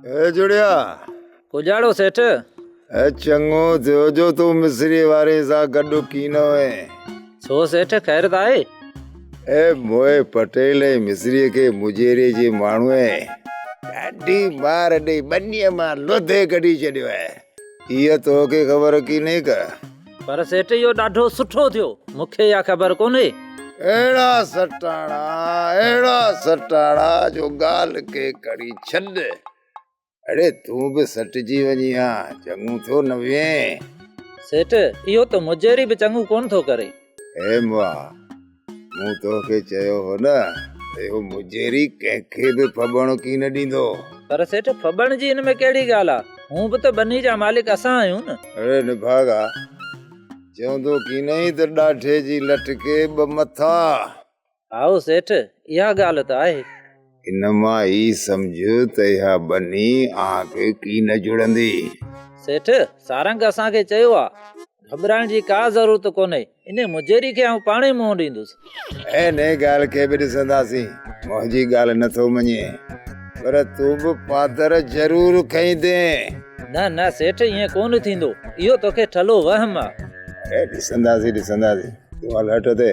اي جوڙيا! ڪوجهاڙو سيٺ! اي چڱو ٿيو جو تون مصريء واري سان گڏ ڪينو هئين. ڇو سيٺ، خيرت آهي؟ اي موئي پٽيل ۽ مصريء کي مجيري جي ماڻهوء ڏاڍي مار ڏئي ٻنيء مان لڌي ڪڍي ڇڏيو آهي. اها توکي خبر ڪيني ڪا؟ پر سيٺ اهو ڏاڍو سٺو ٿيو. مون کي اها خبر ڪونهي. اهڙا سٽاڻا اهڙا سٽاڻا جو ڳالهه کي کڻي ڇڏ. اڙي تون به سٽجي وڃي ها. چڱو ٿيو نه وئين. سيٺ اهو ته مجهري به چڱو ڪونه ٿو ڪري. هيموا مون توکي چيو هو نه ته اهو مجيري ڪنهن کي به ڦٻڻ ڪين ڏيندو. پر سيٺ ڦٻڻ جي ان ۾ ڪهڙي ڳالهه آ؟ هونء به ته ٻني جا مالڪ اسان آهيون نه. اڙي نڀاڳا، چوندو ڪينئي ته ڏاڍي جي لٽ کي ٻه مٿا. هائو سيٺ، اها ڳالهه ته آهي. ان مان هي سمجھ ته اها ٻني اوهان کي ڪي نه جڙندي. سيٺ، سارنگ اسان کي چيو آ. گهٻرائڻ جي ڪا ضرورت ڪونهي. انهي مجيري کي آئون پاڻهي منهن ڏيندس. انهي ڳالهه کي به ڏسنداسين. منهنجي ڳالهه نه ٿو مڃين. پر تون به پادر ضرور کائيندين. نه نه سيٺ ائين ڪونه ٿيندو. اهو توکي ٺلهو وهم آ. ڏسنداسين ڏسنداسين. تون هل هٺ تي.